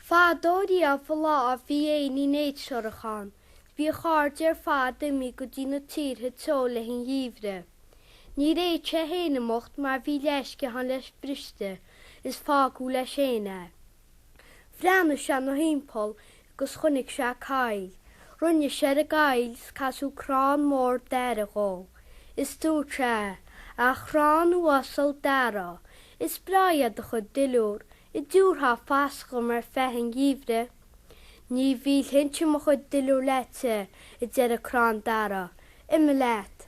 Fadó riamh an lá bhí éinín éidreorach ann. Bhí a chairde ar fad imithe go dtí na tíortha teo le haghaidh an gheimhridh. Níor fhéad sé fhéin imeacht mar bhí leathsciathán leis briste is fágadh leis fhéin é. Bhreathnaigh sé 'na thimpeall 'gus chonaic sé coill. Rinne sé ar an gcoill 's casadh crann mór dara dhó. Is dúirt sé, A chrann uasal dara, is breá é do chuid duilliúr, an dtiúrfá fascadh dhom ar feadh an gheimhridh. Ní mhillfinnse mo chuid duilliúr leatsa, a deir an crann dara, Imigh leat.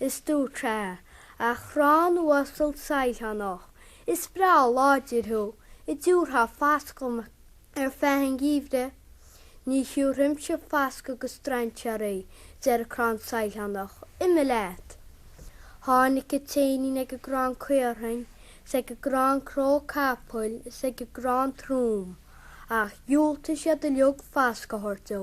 Is dúirt sé, A chrann uasal sailtheanach, is breá láidir thú, an dtiúrfá fascadh dhom ar feadh an gheimhridh. Ní thiúrfainnse fascadh do strainséaraí, a deir an crann sailtheanach, imigh leat. Tháinig an t-éinín ag an gcrann caorthainn, is ag an gcrann cnó capaill, is ag an gcrann trom, ach dhiúltaigh siad uilig fascadh a thabhairt dó.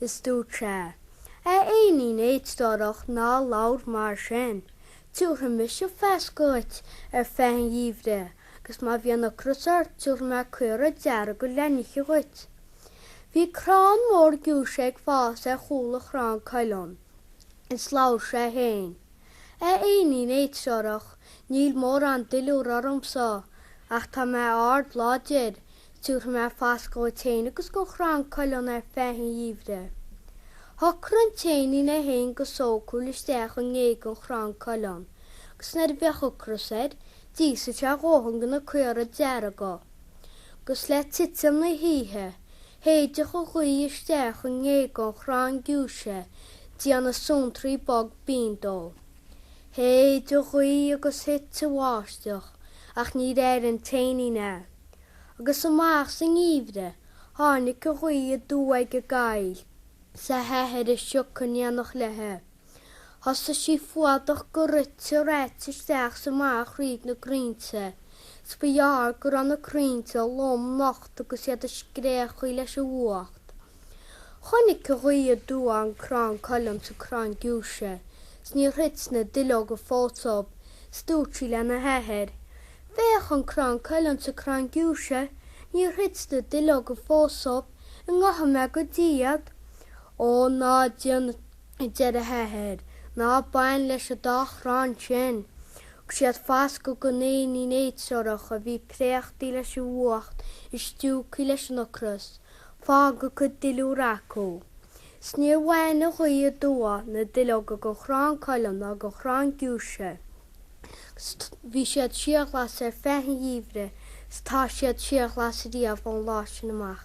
is dúirt sé, 'A éinín éidstórach, ná labhair mar sin. Tiúrfaidh mise fascadh dhuit ar feadh an gheimhridh, agus má bhíonn ocras ort tiúrfaidh mé caora dearga le n-ithe dhuit. Bhí crann mór giúise ag fás ar chúl an chrann cuilinn, is labhair sé féin, 'A éinín éidreorach, níl mórán duilliúir ormsa, ach tá mé ard láidir, Tiúrfaidh mé fascadh dhuit féin agus don chrann cuilinn ar feadh an gheimhridh. Shocraigh an t-éinín é féin go sócúil isteach i ngéaga an chrann cuilinn, agus nuair a bheadh ocras air, d'íosfadh sé a dhóthain de na caora dearga. Agus le titim na hoíche, shéideadh an ghaoth isteach i ngéaga an chrainn giúise, ag déanamh suantraí bog binn dó. Shéid an ghaoth agus thit an bháisteach, ach níor airigh an t-éinín é. agus amach sa ngeimhreadh tháinig an ghaoth aduaidh ag an gcoill is a hathair an sioc in éineacht léithe. Thosaigh sí ag fuadach go rite reaite isteach is amach thríd na crainnte, is ba ghearr go raibh na crainnte lom nocht agus iad ag scréachaíl leis an bhfuacht. Chonaic an ghaoth aduaidh an crann cuilinn is an crann giúise, 's níor thit na duilleoga fós dhóibh, 's dúirt sí lena hathair, 'Féach an crann cuilinn is an crann giúise, níor thit na duilleoga fós dhóibh, an ngabhfaidh mé go dtí iad! 'Ó, ná déan, a deir a hathair, 'ná bain leis an dá chrann sin. Thug siad fascadh don éinín éidreorach a bhí préachtaí leis an bhfuacht is stiúgthaí leis an ocras, Fág a gcuid duilliúr acu. 'S níor bhain a ghaoth aduaidh na duilleoga go chrann cuilinn ná go chrann giúise, 'S bhí siad síorghlas ar feadh an gheimhridh 's tá siad síorghlas riamh ón lá sin amach.